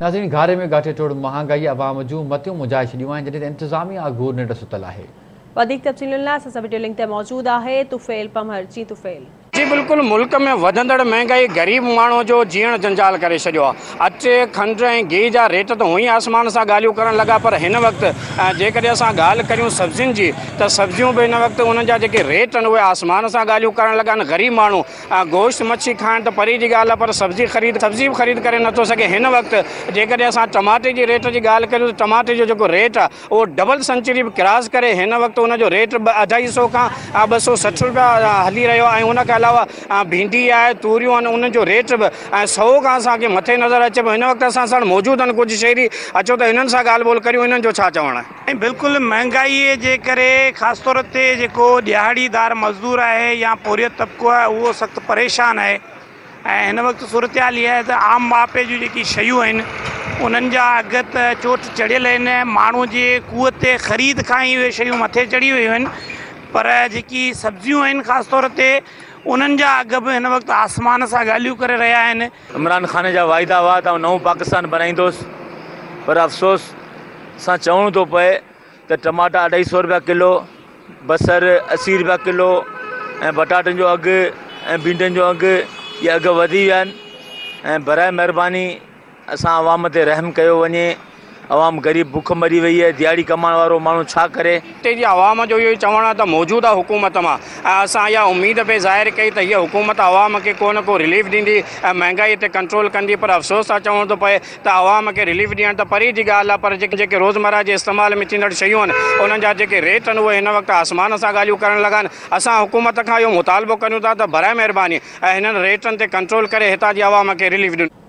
ناظرين گهاري ۾ ڳاٽي ٽوڙ مهانگائي عوام جون متيون مجهائي ڇڏيون آهن جڏهن ته انتظاميه اگهور ننڊ ستل آهي. وڌيڪ تفصيلن لاء اسان سان وڊيو لنڪ تي موجود آهي طفيل پمهر جي طفيل. جي بلڪل ملڪ ۾ وڌندڙ مهنگائي غريب ماڻهو جو جيئڻ جنجال ڪري ڇڏيو آ اچ کنڊ ۽ گيهه جا ريٽ ته هونئن آسمان سان ڳالهيون ڪرڻ لڳا پر هن وقت جيڪڏهن اسان ڳالهه ڪريون سبزين جي ته سبزيون به هن وقت انهن جا جيڪي ريٽ آهن اهي آسمان سان ڳالهيون ڪرڻ لڳا آهن غريب ماڻهو آء گوشت مڇي کائڻ ته پري جي ڳالهه آهي پر سبزي خريد سبزي به خريد ڪري نٿو سگهي هن وقت جيڪڏهن اسان ٽماٽي جي ريٽ جي ڳالهه ڪريون ته ٽماٽي جو جيڪو ريٽ آهي اهو ڊبل سنچري به ڪراس ڪري هن وقت ان جو ريٽ اڍائي سئو کان ٻه سئو سٺ روپيا هلي رهيو آهي ۽ ان کان علاوه ڀينڊي آهي توريون آهن انهن جو ريٽ به سئو کان اسان کي مٿي نظر اچي پيو هن وقت اسان ساڻ موجود آهن ڪجهه شهري اچو ته هنن سان ڳالهه ٻولهه ڪريون هنن جو ڇا چوڻ آهي ۽ بلڪل مهانگائيء جي ڪري خاص طور تي جيڪو ڏيهاڙي دار مزدور آهي يا پورهيت طبقو آهي اهو سخت پريشان آهي ۽ هن وقت صورتحال اها آهي ته عام ماپي جون جيڪي شيون آهن انهن جا اگهه ته چوٽ چڙهيل آهن ماڻهو جي قوت خريد کان ئي اهي شيون مٿي چڙهي ويون آهن پر جيڪي سبزيون آهن خاص طور تي انهن جا اگهه به هن وقت آسمان سان ڳالهيون ڪري رهيا آهن عمران خان جا واعدا هئا ته آئون نئون پاڪستان بنائيندوس پر افسوس سان چوڻو ٿو پئي ته ٽماٽا اڍائي سئو روپيا ڪلو، بصر اسي روپيا ڪلو ۽ پٽاٽن جو اگهه ۽ ڀينڊين جو اگهه اهي اگهه وڌي ويا آهن ۽ براء مهرباني اسان عوام تي رحم ڪيو وڃي. عوام غريب بک مري وئي اهي ديهاڙي ڪمائڻ وارو ماڻهو ڇا ڪري. خطي جي عوام جو اهو ئي چوڻ آهي ته موجوده حڪومت مان ۽ اسان اها اميد به ظاهر ڪئي ته هيء حڪومت عوام کي ڪو نه ڪو رليف ڏيندي ۽ مهنگائي تي ڪنٽرول ڪندي پر افسوس سان چوڻو ٿو پئي ته عوام کي رليف ڏيڻ ته پري جي ڳالهه آهي پر جيڪي روزمره جي استعمال ۾ ٿيندڙ شيون آهن انهن جا جيڪي ريٽ آهن اهي هن وقت آسمان سان ڳالهيون ڪرڻ لڳا آهن اسان حڪومت کان اهو مطالبو ڪريون ٿا ته براء مهرباني هنن ريٽن تي ڪنٽرول ڪري هتان جي عوام کي رليف